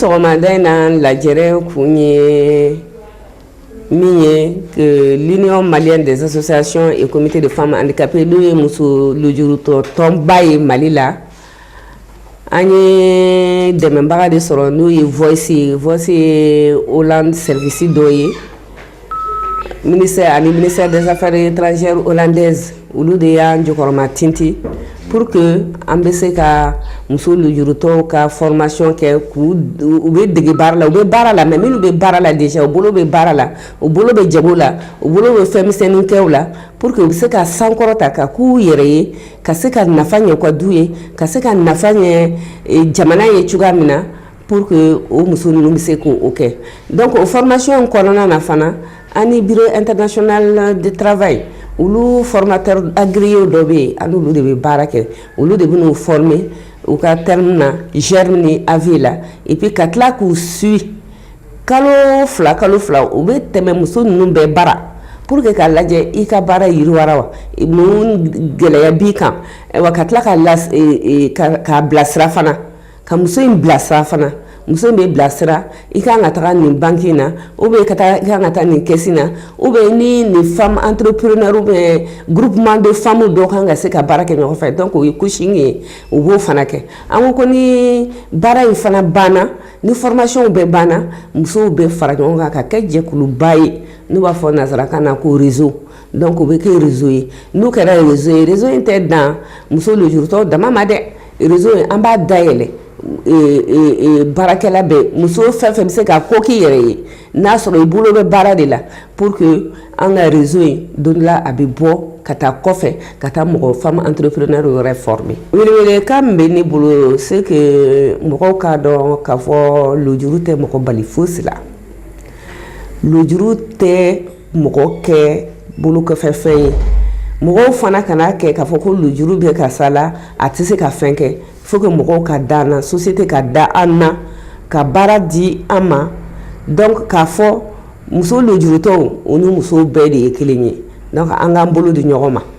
sɔgɔmada in na lajɛrɛ kun ye min ye que l'union malienne des associations et comités de femmes handicapées n'o ye muso lujurutɔ tɔnba ye mali la an ye dɛmɛbaga de sɔrɔ n'o ye voice ye voice ye hollande service dɔ ye Ministère ani ministère des affaires étrangères hollandaise olu de y'an jɔkɔrɔmatintin pour que an bɛ se ka muso lujurutɔw ka formation kɛ k'u u bɛ dege baara la u bɛ baara la mais minnu bɛ baara la déjà u bolo bɛ baara la u bolo bɛ jago la u bolo bɛ fɛn misɛnnin kɛw la pour que u bɛ se ka sankɔrɔta ka k'u yɛrɛ ye ka se ka nafa ɲɛ u ka du ye ka se ka nafa ɲɛ jamana ye cogoya min na Pour que o muso ninnu bɛ se k' o kɛ donc o formation in kɔnɔna na fana an ni bureau international du travail olu formateurs agréés dɔ bɛ yen an n'olu de bɛ baara kɛ olu de bɛ n'u former u ka terme na germe ni AV la et puis ka tila k'u suivi kalo fila kalo fila u bɛ tɛmɛ muso ninnu bɛɛ bara pour que k'a lajɛ i ka baara yiriwara wa mun gɛlɛya b'i kan wa ka tila ka k'a bilasira fana. ka muso in bilasira fana muso in bɛ bilasira i ka kan ka taga nin banki na u bɛ ka taa i ka kan ka taa nin kɛsi na u bɛ ni nin femmes entrepreneures bɛ groupement de femmes dɔ kan ka se ka baara kɛ ɲɔgɔn fɛ donc o ye coaching ye u b'o fana kɛ an ko ko ni baara in fana banna ni formationw bɛɛ banna musow bɛ fara ɲɔgɔn kan ka kɛ jɛkuluba ye n'u b'a fɔ nansarakan na ko réseau Donc o bɛ kɛ réseau ye n'o kɛra réseau ye réseau in tɛ dan muso lujurutɔ dama ma dɛ réseau in an b'a dayɛlɛ baarakɛla bɛɛ muso fɛn fɛn bɛ se ka ko k'i yɛrɛ ye n'a sɔrɔ i bolo bɛ baara de la pour que an ka réseau in don la a bɛ bɔ ka taa kɔfɛ ka taa mɔgɔ femmes entrepreneures yɛrɛ fɔlɔ ka bɛ ne bolo se mɔgɔw k'a dɔn k'a fɔ lujuru tɛ mɔgɔ bali foyi si lujuru tɛ mɔgɔ kɛ bolokɔfɛfɛn ye mɔgɔw fana kan'a kɛ k'a fɔ ko lujuru bɛ karisa la a tɛ se ka fɛn kɛ il faut que mɔgɔw ka da an na société ka da an na ka baara di an ma donc k'a fɔ muso lujurutɔw u ni musow bɛɛ de ye kelen ye donc an k'an bolo di ɲɔgɔn ma